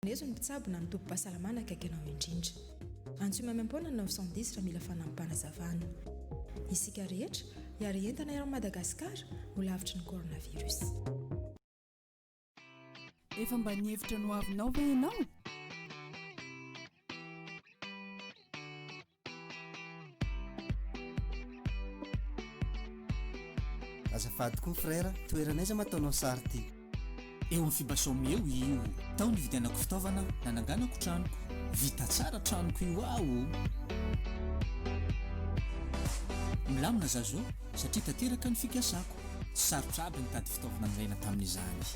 Maneso ny mpitsabo na ny tobim-pahasalamana akaiky anao indrindra. Antsoy maimaim-poana ny 910 raha mila fanampi-panazavana. Isika rehetra, hiary entana eran'i Madagasikara, ho lavitry ny coronavirus. Efa mba nihevitra ny hoavinao ve ianao? Azafady koa frère, toerana aiza ma ataonao sary ty? Eo amin'ny Fibasome eo io. Tao nividianako fitaovana, nananganako tranoko. Vita tsara tranoko io aho o! Milamina za zao satria tanteraka ny fikasako. Tsy sarotra aby nitady fitaovana nilaina tamin'izany.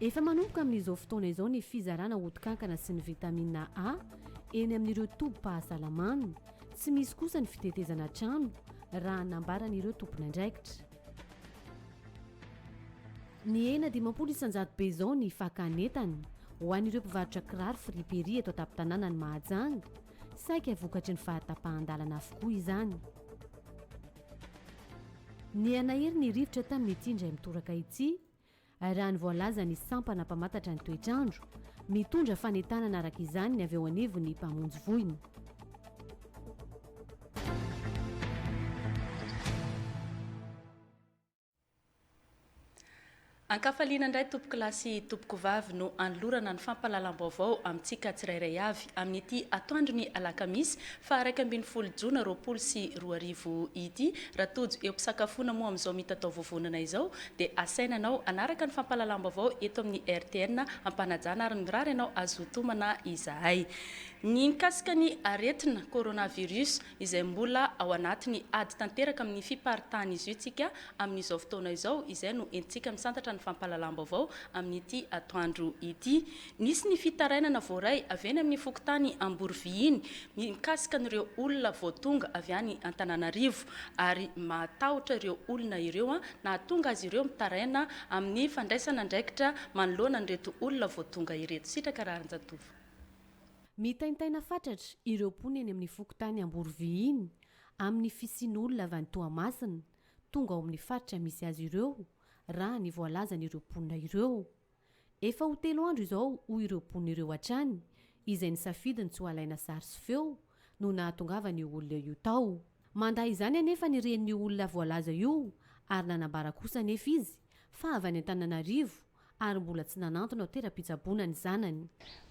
Efa manomboka amin'izao fotoana izao ny fizarana hoto-kankana sy ny vitamina A eny amin'ireo tobim-pahasalamana. Tsy misy kosa ny fitetezana trano, raha nambaran'ireo tompon'andraikitra. Nihena dimampolo isan-jatobe izao ny fakan'entana ho an'ireo mpivarotra kiraro friperie eto an-tampon-tanànan'i Mahajanga, saika vokatry ny fahatapahan-dalana avokoa izany. Nihanahery ny rivotra tamin'ity indray mitoraka ity, raha ny voalazan'ny sampana mpamantatra ny toetr'andro. Mitondra fanentanana araka izany ny avy eo anivon'ny mpamonjy voina. An-kafaliana indray tompoko lahy sy tompoko vavy no anolorana ny fampahalalam-baovao amintsika tsirairay avy amin'ity atoandro ny alakamisy faha iraika ambin'ny folo jona roapolo sy roa arivo ity. Raha tojo eo am-pisakafoana moa amin'izao mitatao vovonana izao dia asaina anao hanaraka ny fampahalalam-baovao eto amin'ny rtn am-panajana ary mirary anao hazoto manà izahay mikasika ny aretina coronavirus. izay mbola ao anatin'ny ady tanteraka amin'ny fiparitahan'izy io tsika amin'izao fotoana izao, izay no entintsika misantatra ny fampahalalam-baovao amin'ity atoandro ity. Nisy ny fitarainana voaray avy eny amin'ny fokontany Amborivihiny mikasika an'ireo olona vao tonga avy any Antananarivo ary mahatahotra ireo olona ireo nahatonga azy ireo mitaraina amin'ny fandraisana andraikitra manoloana an'ireto olona vao tonga ireto. Sitraka Raharinjatovo. Mitaintaina fatratra ireo mponina eny amin'ny fokontany Amborovy iny amin'ny fisian'olona avy any Toamasina tonga ao amin'ny faritra misy azy ireo, raha ny voalazan'ireo mponina ireo. Efa ho telo andro izao hoy ireo mponina ireo hatrany izay nisafidy ny tsy ho alaina sary sy feo no nahatongavan'io olona io tao. Mandà izany anefa ny renin'io olona voalaza io ary nanambara kosa anefa izy fa avy any Antananarivo ary mbola tsy nanantona toeram-pitsaboana ny zanany.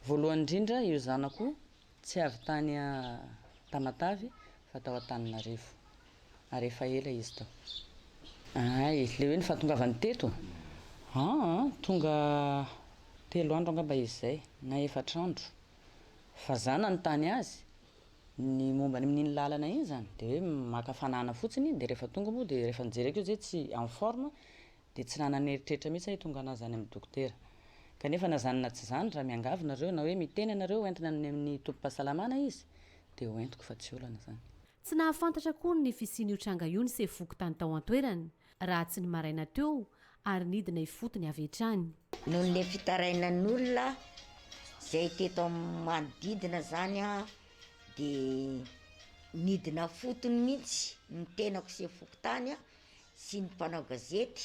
Voalohany indrindra, io zanako tsy avy tany Tamatave fa tao Antananarivo ary efa ela izy tao. Hay, ilay hoe ny fahatongavany teto? Aa, tonga telo andro angamba izy izay na efatra andro fa za nanontany azy Ny momba ny min'iny lalana iny zany de hoe maka fanahana fotsiny de refa tonga moa de refa nijereko izy hoe tsy en forme de tsy nanana eritreritra mihitsy aho hitongà anazy any amin'ny dokotera kanefa na zany na tsy zany raha miangavy nareo na hoe miteny ianareo hoentina any amin'ny tobim-pahasalamana izy de hoentiko fa tsy olana zany. Tsy nahafantatra akory ny fisian'io tranga io ny sefo fokontany tao an-toerana Raha tsy ny maraina teo ary nidina ifotony avy hatrany. Noho le fitarainan'olona zay teto amin'ny manodidina zany a de nidina fotony mintsy ny tenako sy ny fokontany a sy ny mpanao gazety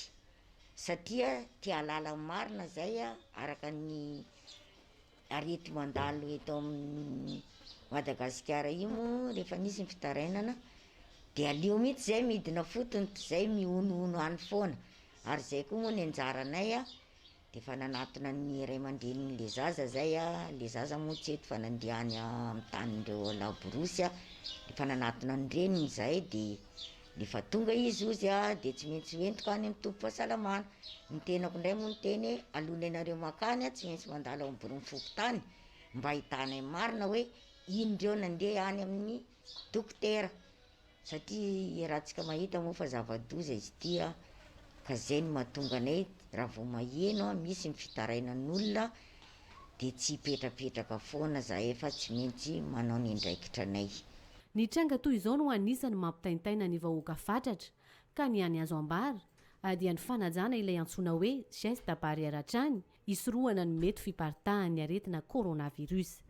satria te halala ny marina zay araka ny Ary ito mandalo eto amin'ny Madagasikara io moa rehefa misy ny fitarainana dia aleo mihitsy izay midina fotony toy izay mihonohono any foana ary izay koa moa ny anjaranay a dia efa nanatona ny ray aman-drenin'ilay zaza izay a, ilay zaza moa tsy eto fa nandeha any amin'ny tanin'ireo laborosy a, efa nanatona ny reniny izay dia. Rehefa tonga izy ozy a de tsy maintsy ho entiko any amin'ny toby fahasalamana. Ny tenako indray moa niteny hoe alohan'ny anareo mankany a tsy maintsy mandalo ao amin'ny biraon'ny fokontany mba hahitana ny marina hoe ino ireo nandeha any amin'ny dokotera satria iarahantsika mahita moa fa zava-doza izy ity a, ka zay no mahatonga anay raha vao maheno misy ny fitarainan'olona. dia tsy hipetrapetraka foana zahay fa tsy mintsy manao ny ndraikitra anay. Ny tranga toy izao no anisany mampitaintaina ny vahoaka fatratra ka ny any azo ambara dia ny fanajana ilay antsoina hoe geste barrière hatrany hisorohana ny mety fiparitahan'ny aretina coronavirus.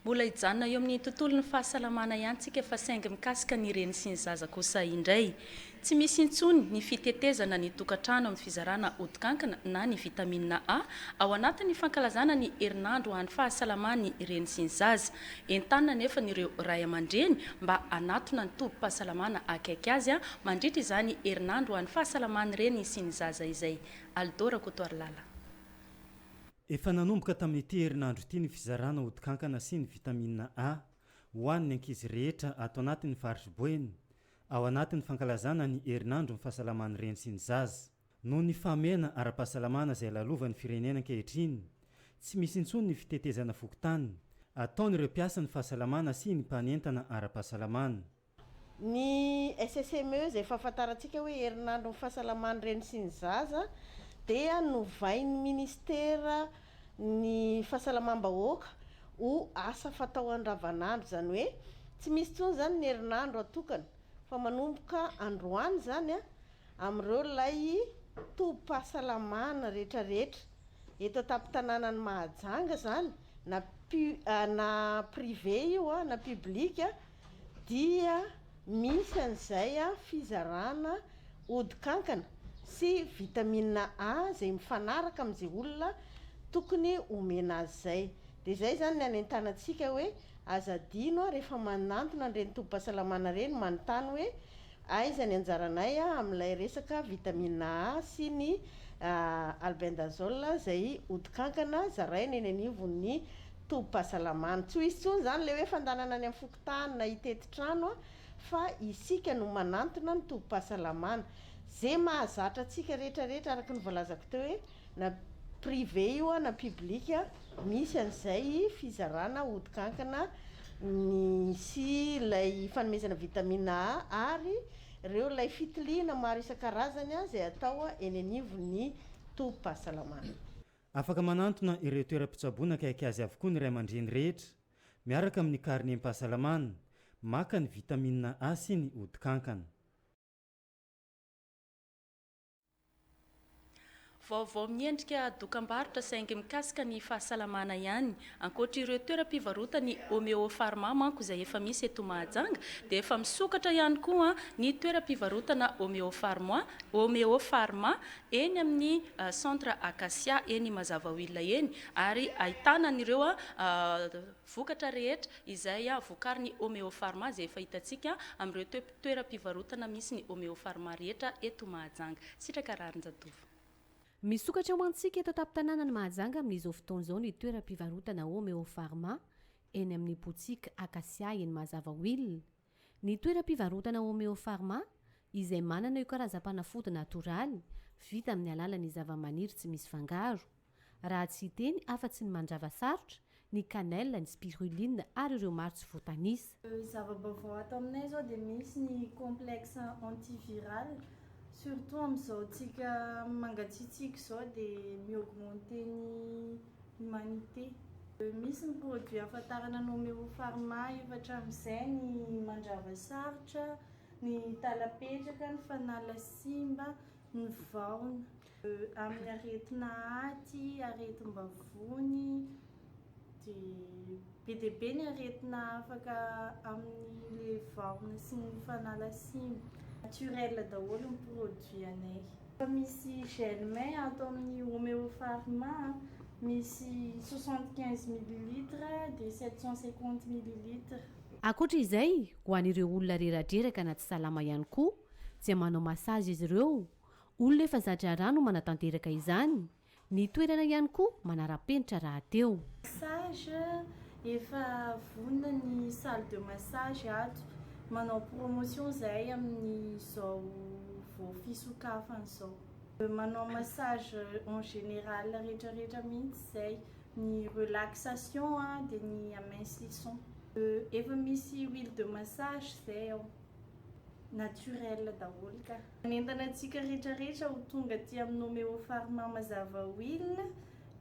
Mbola hijanona eo amin'ny tontolon'ny fahasalamana ihany tsika fa saingy mikasika ny reny sy ny zaza kosa indray. Tsy misy intsony ny fitetezana ny tokantrano amin'ny fizarana odikankina na ny vitamina A ao anatin'ny fankalazana ny herinandro ho an'ny fahasalaman'ny reny sy ny zaza. Entanina anefa ny ireo ray aman-dreny mba hanatona ny tobim-pahasalamana akaiky azy mandritra izany herinandro ho an'ny fahasalaman'ny reny sy ny zaza izay. Alidô Rakotoarilala. Efa nanomboka tamin'ity herinandro ity ny fizarana odin-kankana sy ny vitamina A ho an'ny ankizy rehetra ato anatin'ny faritr'i Boeny, ao anatin'ny fankalazana ny herinandron'ny fahasalaman'ny reny sy ny zaza. Noho ny fahamehana ara-pahasalamana izay lalovan'ny firenena ankehitriny, tsy misy intsony ny fitetezana fokontany, ataon'ireo mpiasan'ny fahasalamana sy ny mpanentana ara-pahasalamana. Ny SSME izay fahafantarantsika hoe herinandron'ny fahasalaman'ny reny sy ny zaza dia novain'ny Minisitera ny fahasalamam-bahoaka ho asa fatao andavanandro, izany hoe tsy misy intsony izany ny herinandro atokana fa manomboka androany izany amin'ireo ilay tobim-pahasalamana rehetrarehetra eto an-tampon-tanànan'i Mahajanga izany na na privé io na public. dia misy an'izay fizarana ody kankana sy vitamine A izay mifanaraka amin'izay olona tokony omena azy izay. Dia izay izany ny anentanantsika hoe aza adino rehefa manantona an'ireny tobim-pahasalamana ireny manontany hoe aiza ny anjaranay amin'ilay resaka vitamine A sy ny albendazole izay ody kankana zaraina eny anivon'ny Tobim-pahasalamana. Tsy ho izy intsony izany ilay hoe fandanana any amin'ny fokontany na hitety trano fa isika no manantona ny tobim-pahasalamana. Izay mahazatra antsika rehetra rehetra araka ny voalazako teo hoe na privé io na public misy an'izay fizarana odin-kankana ny sy ilay fanomezana vitamine A ary ireo ilay fitiliana maro isan-karazany izay atao eny anivon'ny tobim-pahasalamana. Afaka manantona ireo toeram-pitsaboana akaiky azy avokoa ny ray aman-dreny rehetra, miaraka amin'ny karnem-pahasalamana, maka ny vitamina A sy ny odin-kankana. Vaovao miendrika dokam-barotra saingy mikasika ny fahasalamana ihany. Ankoatra ireo toeram-pivarotan'ny Homeopharma manko izay efa misy eto Mahajanga dia efa misokatra ihany koa ny toeram-pivarotana Homeopharma, Homeopharma, eny amin'ny Centre Acacia eny Mazavaoila eny ary ahitana an'ireo vokatra rehetra izay vokarin'ny Homeopharma izay efa hitantsika amin'ireo toeram-pivarotana misy ny Homeopharma rehetra eto Mahajanga. Sitraka Raharinjatovo. Misokatra ho antsika eto an-tampon-tanànan'i Mahajanga amin'izao fotoana izao ny toeram-pivarotana Homeo Pharma eny amin'ny Boutique Acacia eny Mazava Will. Ny toeram-pivarotana Homeo Pharma, izay manana io karazam-panafody natoraly, vita amin'ny alalan'ny zava-maniry tsy misy fangaro. Raha tsy hiteny afa-tsy ny mandrava sarotra, ny cannelle, ny spiruline ary ireo maro tsy voatanisa. Zava-baovao ato aminay izao dia misy ny complexe antiviral, surtout amin'izao tsika mangatsiatsiaka izao dia mi-augmenter ny humanité. Misy ny produit ahafantarana nomer au pharma efa hatramin'izay, ny mandrava sarotra, ny tala-petraka, ny fanala simba, ny vahona amin'ny aretina aty, aretim-bavony, dia be dia be ny aretina afaka amin'ilay vahona sy ny fanala siny. Naturel daholo ny produit anay. Efa misy gel main ato amin'ny Omeo Pharma, misy soixante quinze millilitres dia sept cent cinquante millilitres. Ankoatra izay, ho an'ireo olona reradreraka na tsy salama ihany koa, Dia manao massage izy ireo. Olona efa za-draharaha no manatanteraka izany. Ny toerana ihany koa manara-penitra rahateo. Massage, efa vonona ny salle de massage ato. Manao promotion izahay amin'izao vao fisokafana izao. Manao massage en général rehetrarehetra mihitsy izay. Ny relaxation dia ny amincissons. Efa misy huile de massage izay ao. naturel daholo ka. Manentana antsika rehetra rehetra ho tonga aty amin'ny Nomeo Pharma Mazava Oil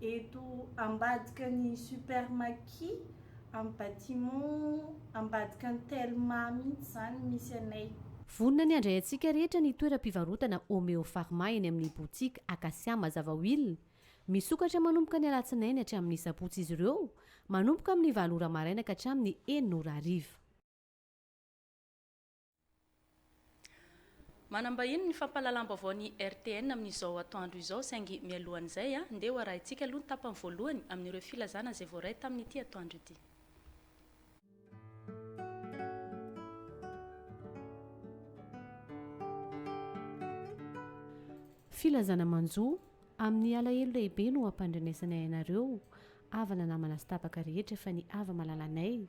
eto ambadika ny Super Maki amin'ny bâtiment ambadika ny Telma mihitsy izany misy anay. Vonona ny handray antsika rehetra ny toeram-pivarotana Omeo Pharma eny amin'ny boutique Acacia Mazava Oil. Misokatra manomboka ny alatsinainy hatramin'ny sabotsy izy ireo, manomboka amin'ny valo ora maraina ka hatramin'ny enina ora hariva. Manambahiny ny fampahalalam-baovao ny RTN amin'izao atoandro izao saingy mialohan'izay dia ho arahintsika aloha ny tapany voalohany amin'ireo filazana izay voaray tamin'ity atoandro ity. Filazana manjo, Amin'ny alahelo lehibe no ampandrenesanay anareo havana namana sy tapaka rehetra fa ny hava-malalanay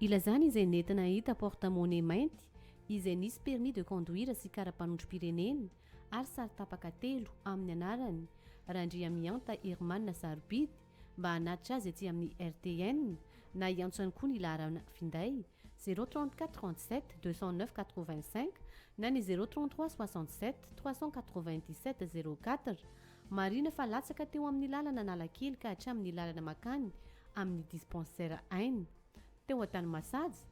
Ilazany izay nentina hahita porte monnaie mainty izay nisy permis de conduire sy kara-panondrom-pirenena ary sary tapaka telo amin'ny anarany Randriamihanta Herman sarobidy mba hanatitra azy aty amin'ny RTN na hiantso ihany koa ny laharana finday zéro trente quatre trente sept deux cent neuf quatre vingt cinq na ny zéro trente trois soixante sept trois cent quatre vingt dix sept zéro quatre Marihina fa latsaka teo amin'ny lalana Analakely ka hatramin'ny lalana makany amin'ny dispensaire Aina teo Antanimasaja,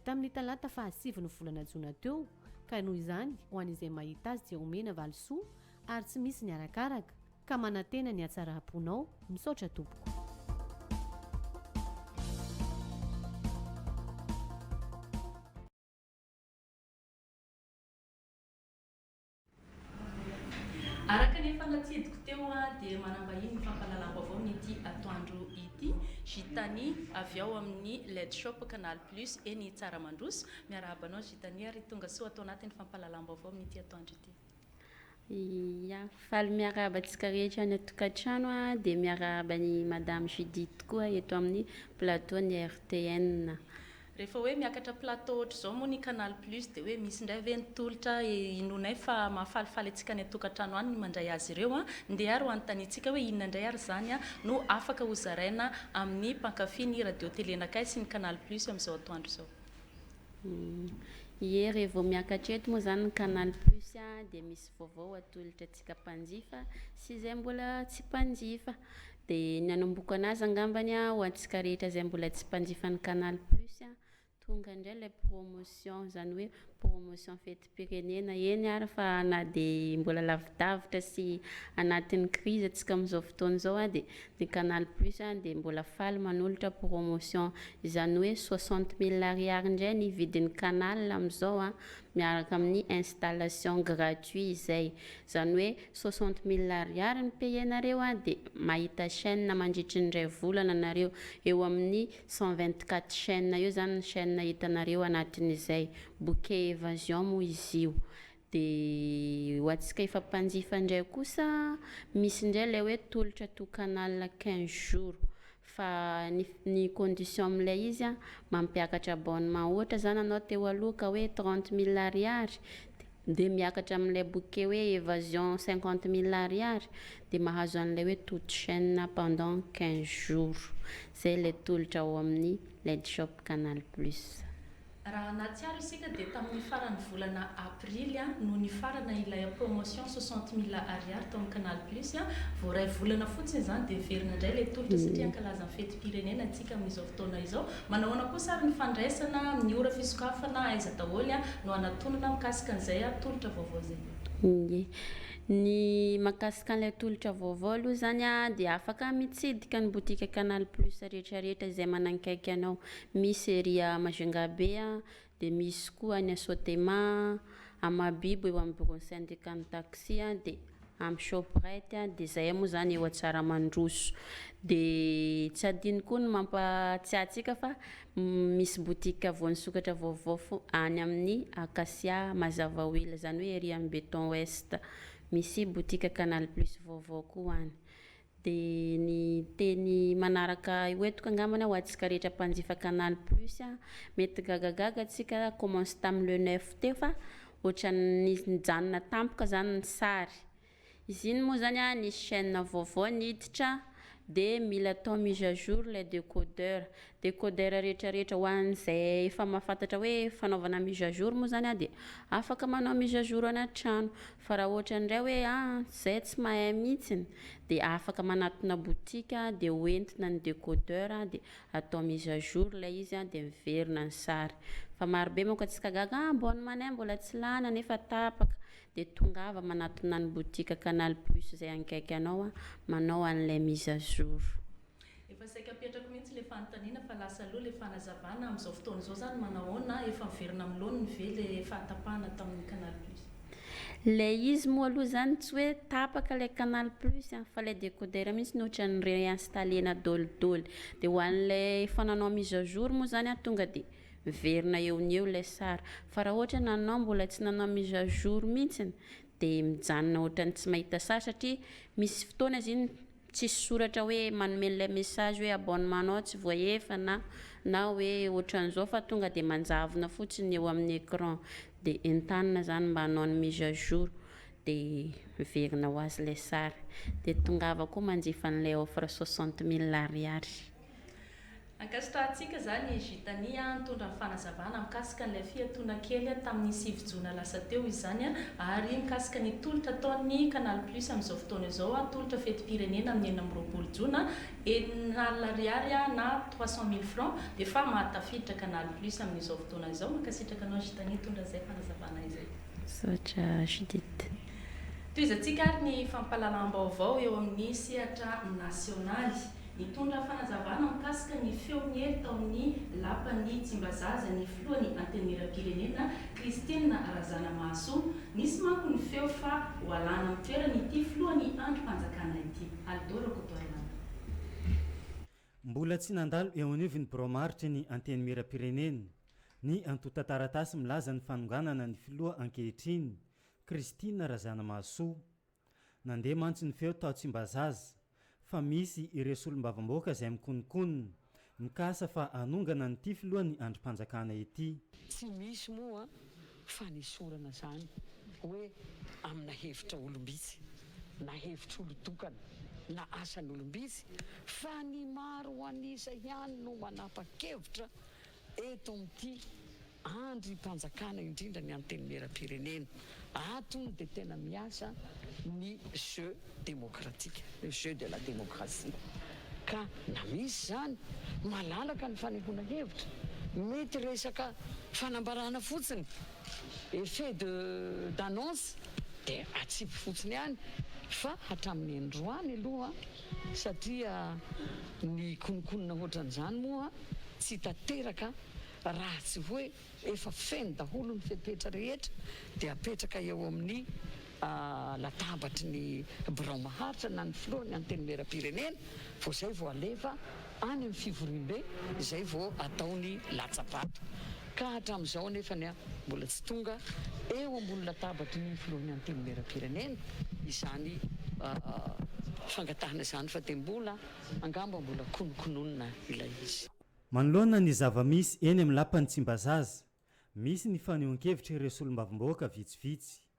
tamin'ny talata fahasivy ny volana jona teo, ka noho izany, ho an'izay mahita azy dia omena valisoa ary tsy misy ny arakaraka, ka manantena ny hatsaram-ponao, misaotra tompoko. Araka ny efa natsidiko teo dia manambahiny ny fampahalalam-baovao ny ity atoandro ity, Gitani avy ao amin'ny Led Shop Canal Plus eny Tsaramandroso. Miarahaba anao Gitani ary tonga soa ato anatin'ny fampahalalam-baovao amin'ity atoandro ity. Ia, faly miarahaba antsika rehetra any an-tokantrano dia miarahaba an'i Madame Judith koa eto amin'ny plateau-n'ny RTN. Rehefa hoe miakatra plateau ohatr'izao moa ny Canal Plus dia hoe misy indray ve ny tolotra hinoanay fa mahafalifaly antsika any an-tokantrano any ny mandray azy ireo an? Ndeha ary ho anontaniantsika hoe inona indray ary izany no afaka hozaraina amin'ny mpankafy ny radio telenakay sy ny Canal Plus amin'izao atoandro izao? Ie, raha vao miakatra eto moa izany ny Canal Plus dia misy vaovao atolotra antsika. Tsika mpanjifa sy izay mbola tsy mpanjifa. Dia ny hanomboka anazy angambany a, ho antsika rehetra izay mbola tsy mpanjifa ny Canal Plus a, tonga indray ilay promotion, izany hoe promotion fetim-pirenena. Eny ary fa na dia mbola lavidavitra sy anatin'ny crise antsika amin'izao fotoana izao a, dia ny Canal Plus a dia mbola faly manolotra promotion. Izany hoe soixante mille ariary indray ny vidin'ny canal amin'izao a, miaraka amin'ny installation gratuit izay, izany hoe soixante mille ariary ny payer-nareo an, dia mahita chaine mandritry ny iray volana nareo, eo amin'ny cent vingt quatre chaine eo izany ny chaine hitanareo anatin'izay, bouquet evasion moa izy io, dia ho antsika efa mpanjifa indray kosa misy indray ilay hoe tolotra to canal quinze jours. fa ny ny condition amin'ilay izy an, mampiakatra abonnement ohatra zany anao teo aloha ka hoe trente mille ariary de miakatra amin'ilay bouquet hoe evasion cinquante mille ariary de mahazo an'ilay hoe toute chaine pendant quinze jours, zay ilay tolotra ao amin'ny Ledshop canal plus. Raha nahatsiaro isika dia tamin'ny faran'ny volana aprily no nifarana ilay promotion soixante mille ariary tao amin'ny Canal Plus. Vao iray volana fotsiny izany dia hiverina indray ilay tolotra satria hankalaza ny fetim-pirenena isika amin'izao fotoana izao. Manao ahoana kosa ary ny fandraisana amin'ny ora fisokafana, aiza daholo no hanatonana mikasika an'izay tolotra vaovao izay? Ie. Ny mahakasika an'ilay tolotra vaovao aloha izany dia afaka mitsidika ny botika Canal Plus rehetrarehetra izay manankaiky anao. Misy ery à Majunga be a, dia misy koa any à Sotema a, à Mahabibo eo amin'ny bureau-n'ny syndicat n'ny taxi a, dia amin'ny Shoprite a, dia zay moa zany eo à Tsiaramandroso. Dia tsy adino koa ny mampahatsiahy antsika fa misy boutique vao nisokatra vaovao fo any amin'ny Acacia Mazava ho ela, zany hoe ery amin'ny Beton Ouest. Misy boutique Canal Plus vaovao koa any. Dia ny teny manaraka hoentiko angambany ho antsika rehetra mpanjifa Canal Plus a, mety gagagaga antsika commence tamin'ny le neuf teo fa ohatran'ny nijanona tampoka zany ny sary. Izy iny moa zany a nisy chaîne vaovao niditra dia mila atao mise à jour ilay décodeur. Decoder rehetra rehetra ho an izay efa mahafantatra hoe fanaovana mise à jour moa izany an dia afaka manao mise à jour ana trano fa raha ohatra indray hoe an izay tsy mahay mihitsiny dia afaka manatona boutique dia ho entina ny decoder dia atao mise à jour ilay izy an dia miverina ny sary fa maro be manko atsika gaga an bonne manay mbola tsy lany nefa tapaka dia tongava manatona ny boutique canal plus izay akaiky anao an manao an'ilay mise à jour. Efa saika apetrako mihitsy le fanontaniana fa lasa aloha le fanazavana amin'izao fotoana izao zany manao ahoana? Efa miverina amin'ny laoniny ve le fahatapahana tamin'ny canal plus? Le izy moa aloha zany tsy hoe tapaka le canal plus an! Fa le décodeur mihitsy no ohatran'ny reinstaller-na dolidoly. De ho an'le efa nanao mise à jour moa zany an tonga de miverina eo ny eo le sary. Fa raha ohatra nanao mbola tsy nanao mise à jour mihitsy de mijanona ohatran'ny tsy mahita sary satria misy fotoana izy iny. Tsisy soratra hoe manome an'ilay message hoe abonnement nao tsy voaefa na na hoe otran'izao fa tonga dia manjavona fotsiny ny eo amin'ny écran dia entanina zany mba hanao ny mise à jour dia miverina ho azy ilay sary dia tongava koa manjifa an'ilay offre soixante mille ariary. Ankasitrahantsika izany i Gitani nitondra ny fanazavana mikasika an'ilay fiatoana kely tamin'ny sivy jona lasa teo izany ary mikasika ny tolotra ataon'ny Canal Plus amin'izao fotoana izao, tolotra fetim-pirenena amin'ny enina amby roapolo jona, enina alina ariary na trois cent mille francs efa mahatafiditra Canal Plus amin'izao fotoana izao. Mankasitraka anao Gitani nitondra izay fanazavana izay. Misaotra Judith. Tohizantsika ary ny fampahalalam-baovao eo amin'ny sehatra nasionaly. Nitondra fanazavana mikasika ny feon'i Hery tao amin'ny lapan'ny Tsimbazaza ny filohan'ny Antenimierampirenena, Christine Razanamahasoa. Nisy manko ny feo fa ho alàna amin'ny toerany ity filohan'ny andrim-panjakana ity. Aldo Rakotoarimanana. Mbola tsy nandalo eo anivon'ny birao maritry ny Antenimierampirenena ny antontan-taratasy milaza ny fanonganana ny filoha ankehitriny, Christine Razanamahasoa. Nandeha mantsy ny feo tao Tsimbazaza fa misy ireo solombavamboaka izay mikonokonona, mikasa fa hanongana an'ity filoha ny andrim-panjakana ity. Tsy misy moa fanesorana izany hoe amina hevitra olom-bitsy na hevitr'olon-tokana na asan'olom-bitsy fa ny maro an'isa ihany no manapa-kevitra Eto amin'ity andrim-panjakana indrindra ny Antenimieram-pirenena, ato hono dia tena miasa ny jeu demokratika, le jeu de la démocratie. Ka na misy izany, malalaka ny fanehoana hevitra, mety resaka fanambarana fotsiny, effet de d'annonce, dia atsipy fotsiny ihany, fa hatramin'ny androany aloha, Satria ny kononkonona hoatran'izany moa tsy tanteraka raha tsy hoe efa feno daholo ny fepetra rehetra dia apetraka eo amin'ny latabatry ny birao maharitra na ny filohan'ny antenimieram-pirenena vao izay vao alefa any amin'ny fivoriambe izay vao atao ny latsa-bato ka hatramin'izao anefany mbola tsy tonga eo ambony latabatry ny filohan'ny Antenimierampirenena izany fangatahana izany fa dia mbola angamba mbola konokononina ilay izy. Manoloana ny zava-misy eny amin'ny lapan'i Tsimbazaza, misy ny fanehoan-kevitra ireo solombavambahoaka vitsivitsy.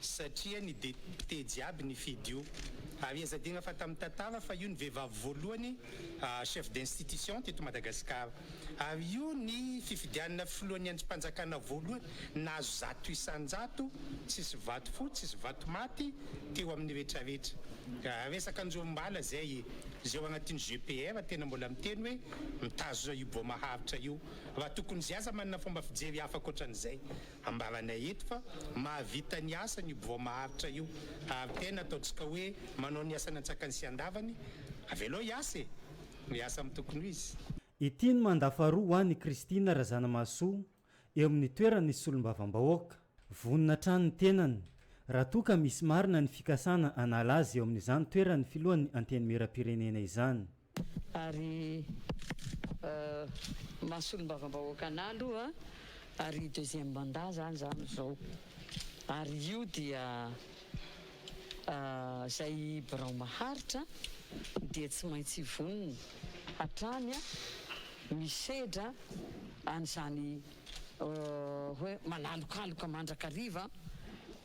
satria ny depiote jiaby nifidy io ary aza adino fa tamin'ny tantara fa io ny vehivavy voalohany chef d'institution teto Madagasikara ary io ny fifidianana filohan'ny andrimpanjakana voalohany nahazo zato isan-jato tsisy vato fo tsisy vato maty teo amin'ny retraretra raha resaka anjorom-bala zay zay ao anatin'ny GPR tena mbola miteny hoe mitazona io bois maharitra io raha tokony zay aza manana fomba fijery hafa ankoatran'izay Ambaranay eto fa mahavita ny asany io bois maharitra io ary tena ataontsika hoe manao ny asany antsakany sy andavany, avelao hiasa e! Miasa amin'ny tokony ho izy. Ity no mandat faharoa ho an' i Christine Razanamahasoa eo amin'ny toeran' ny solombavambahoaka. Vonona hatrany ny tenany raha toa ka misy marina ny fikasana hanala azy eo amin'izany toeran'ny filohan'ny Antenimierampirenena izany. ary maha solombavambahoaka anah aloha ary deuxième mandat zany za amizao ary io dia zay birao maharitra dia tsy maintsy vonona hatrany misedra anizany hoe manalokaloka mandrakariva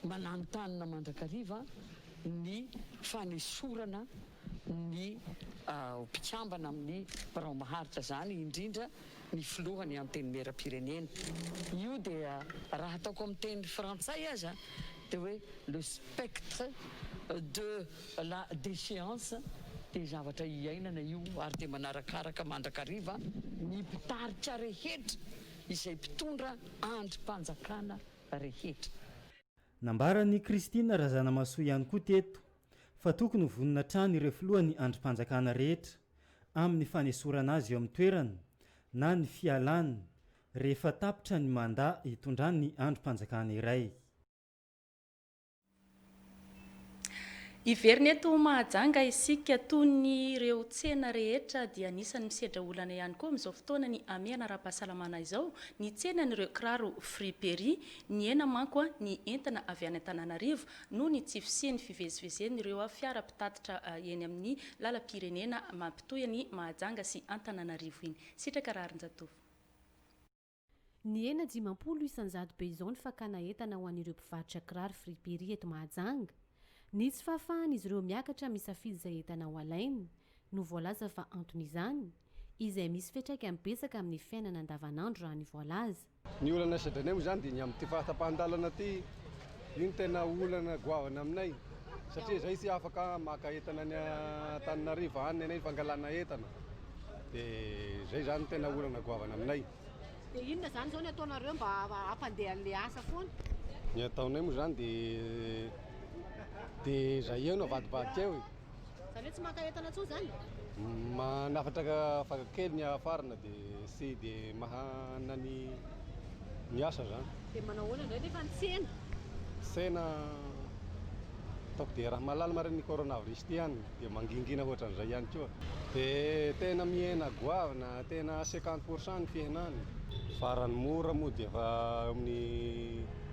mananontanona mandrakariva ny fanesorana ny mpikambana amin'ny birao maharitra izany, indrindra ny filoha ny antenimieram-pirenena. Io dia raha ataoko amin'ny teny frantsay aza dia hoe le spectre de la déchéance dia zavatra iainana io ary dia manarakaraka mandrakariva ny mpitarika rehetra izay mpitondra andrim-panjakana rehetra. Nambaran'i Christine Razanamahasoa ihany koa teto fa tokony ho vonona hatrany ireo filohan'ny andrim-panjakana rehetra amin'ny fanesorana azy eo amin'ny toerany na ny fialany rehefa tapitra ny mandat hitondran'ny andrim-panjakana iray. Hiverina eto Mahajanga isika. Tony ireo tsena rehetra dia anisan'ny misedra olana ihany koa amin'izao fotoana ny hamehana ara-pahasalamana izao ny tsenan'ireo kiraro friperie. Nihena manko ny entana avy any Antananarivo noho ny tsy fisian'ny fivezivezen'ireo fiara mpitatitra eny amin'ny lalam-pirenena mampitohy an'i Mahajanga sy Antananarivo iny. Sitraka Raharinjatovo. Nihena dimampolo isan-jato be izao ny fakana entana ho an'ireo mpivarotra kiraro friperie eto Mahajanga. Ny tsy fahafahan'izy ireo miakatra misafidy izay entana ho alainy no voalaza fa anton'izany, izay misy fiantraikany betsaka amin'ny fiainana andavanandro raha ny voalaza. Ny olana saidy anay moa izany dia ny amin'ity fahatapahan-dalana ity, io no tena olana goavana aminay satria izay tsy afaka maka entana any Antananarivo any ny fangalana entana dia izay izany no tena olana goavana aminay. Dia inona izany izao ny ataonareo mba hampandeha an'ilay asa foana? Ny ataonay moa izany dia dia izay eo no avadibadika eo e! Zany hoe tsy maka entana intsony zany? Manafatra afaka kely ny afarana dia tsy dia mahana ny ny asa zany. Dia manao ahoana indray nefa ny tsena? Tsena ataoko dia raha mahalala marina ny coronavirus ity ihany dia mangingina ohatran'izay ihany koa. Dia tena mihena goavana, tena cinquante pour cent ny fihenany. Farany mora moa dia efa eo amin'ny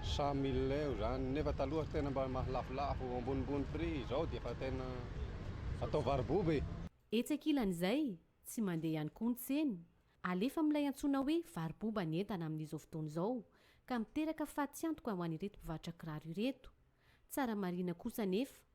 Cent mille eo zany nefa taloha tena mba lafolafo ambonimbony prix izao dia efa tena atao varoboba e. Etsy ankilan'izay, tsy mandeha ihany koa ny tsena, alefa amin'ilay antsoina hoe varoboba ny entana amin'izao fotoana izao ka miteraka fatiantoka ho an'ireto mpivarotra kiraro ireto. Tsara marihina kosa anefa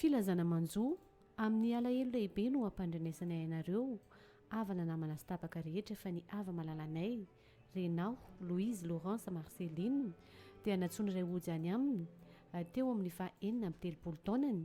Filazana manjo, Amin'ny alahelo lehibe no ampandrenesanay anareo, havana namana sy tapaka rehetra fa ny hava-malalanay, Renaho, Louise, Laurence, Marceline, dia nantsoin'iray Hoja any aminy, teo amin'ny faha enina amby telopolo taonany,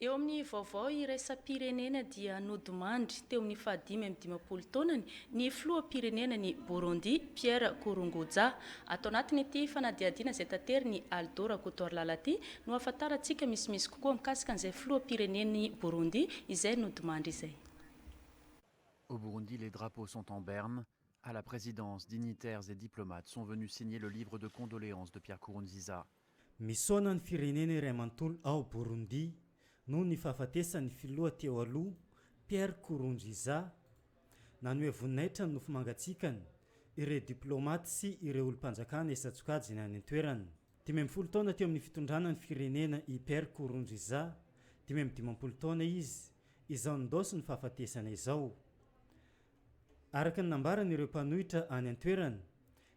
Eo amin'ny vaovao iraisam-pirenena dia nodimandry teo amin'ny fahadimy amby dimampolo taonany ny filoham-pirenenan'i Burundi, Pierre Nkurunguza. Ato anatin'ity fanadihadiana izay taterin'i Aldo Rakotoarilala ity no ahafantarantsika misimisy kokoa mikasika an'izay filoham-pirenen'i Burundi izay nodimandry izay. Au Burundi les drapeaux sont en berne, à la présidence, dignitaires et diplomates sont venus signer le livre de condoléances de Pierre Nkurunziza. Misaona ny firenena iray manontolo ao Burundi noho ny fahafatesan'ny filoha teo aloha Pierre Nkurunziza. Nanoe voninahitra ny nofo mangatsiakany ireo diplaomaty sy ireo olom-panjakana isan-tsokajiny any an-toerana. Dimy amby folo taona teo amin'ny fitondrana ny firenena i Pierre Nkurunziza, dimy amby dimampolo taona izy izao nindaosin'ny fahafatesana izao. Araka ny nambaran'ireo mpanohitra any an-toerana,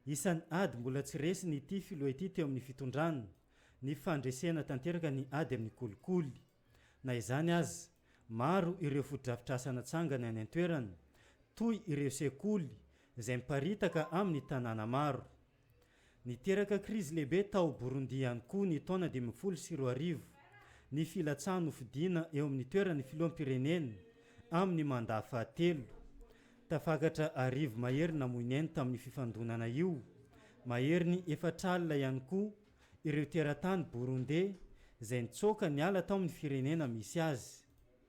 isan'ny ady mbola tsy resiny ity filoha ity teo amin'ny fitondrana, ny fandresena tanteraka ny ady amin'ny kolikoly. Na izany aza, maro ireo fotodrafitrasa natsangany any an-toerana, toy ireo sekoly izay miparitaka amin'ny tanàna maro. Niteraka krizy lehibe tao Burundi ihany koa ny taona dimy ambin'ny folo sy roa arivo ny filatsahan'ny hofidiana eo amin'ny toeran'ny filoham-pirenena amin'ny mandat fahatelo. Tafakatra arivo mahery namoy ny ainy tamin'io fifandonana io, maherin'ny efatr'alina ihany koa ireo teratany Burundey izay nitsoaka niala tao amin'ny firenena misy azy.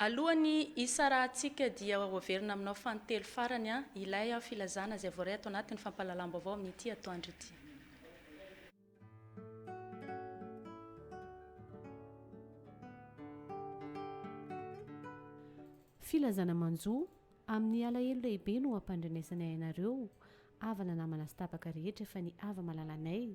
Alohan'ny hisarahantsika dia hoaverina aminao fanintelo farany ilay filazana izay voaray ato anatin'ny fampahalalam-baovao amin'ity atoandro ity. Filazana manjo, Amin'ny alahelo lehibe no ampandrenesanay anareo havana namana sy tapaka rehetra fa ny hava-malalanay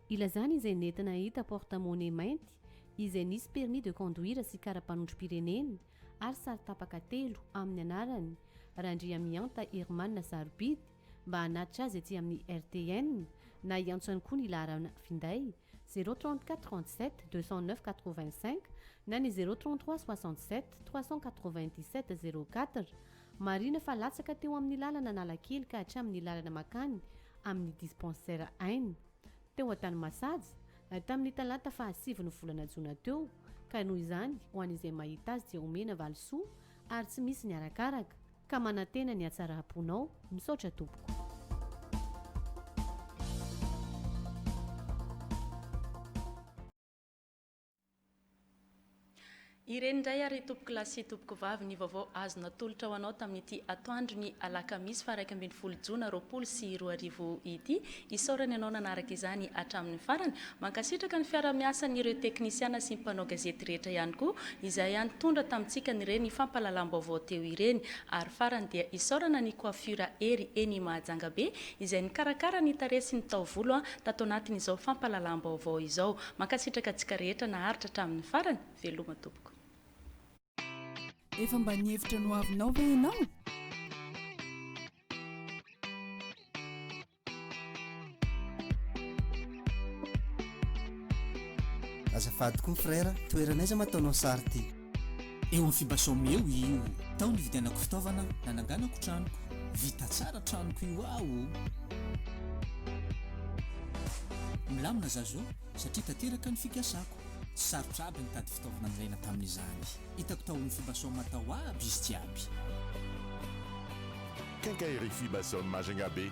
Ilazany izay nentina hahita porte monnaie mainty izay nisy permis de conduire sy kara-panondrom-pireneny ary sary tapaka telo amin'ny anarany Randriamihanta Herman sarobidy mba hanatitra azy aty amin'ny RTN na hiantso ihany koa ny laharana finday zéro trente quatre trente sept deux cent neuf quatre vingt cinq na ny zéro trente trois soixante sept trois cent quatre vingt dix sept zéro quatre Marihina fa latsaka teo amin'ny lalana Analakely ka hatramin'ny lalana makany amin'ny dispensaire Aina teo Antanimasaja, tamin'ny talata faha sivy ny volana jona teo, ka noho izany ho an'izay mahita azy dia omena valisoa ary tsy misy ny arakaraka, ka manantena ny hatsaram-ponao, misaotra tompoko. Ireny indray ary tompokolahy sy tompokovavy ny vaovao azo natolotra ho anao tamin'ity atoandro ny alakamisy faha iraika ambin'ny folo jona roapolo sy roa arivo ity. Isaorana ianao nanaraka izany hatramin'ny farany. Mankasitraka ny fiara-miasan'ireo teknisiana sy ny mpanao gazety rehetra ihany koa izay nitondra tamintsika an'ireny fampahalalam-baovao teo ireny. Ary farany dia isaorana ny Coiffure Hery eny Mahajangabe izay nikarakara ny tarehy sy ny taovolo tato anatin'izao fampahalalam-baovao izao. Mankasitraka antsika rehetra naharitra hatramin'ny farany, veloma tompoko. Efa mba nihevitra ny ho avinao ve ianao? Azafady koa frère, toeran'aiza ma ataonao sary ty? Eo amin'ny Fibasome eo io. Tao nividianako fitaovana nananganako tranoko. Vita tsara tranoko io aho o! Milamina za zao satria tanteraka ny fikasako. Tsy sarotra aby nitady fitaovana nilaina tamin'izany. Hitako tao amin'ny Fibasome tao aby izy jiaby. Quincaillerie Fibasome Majunga be.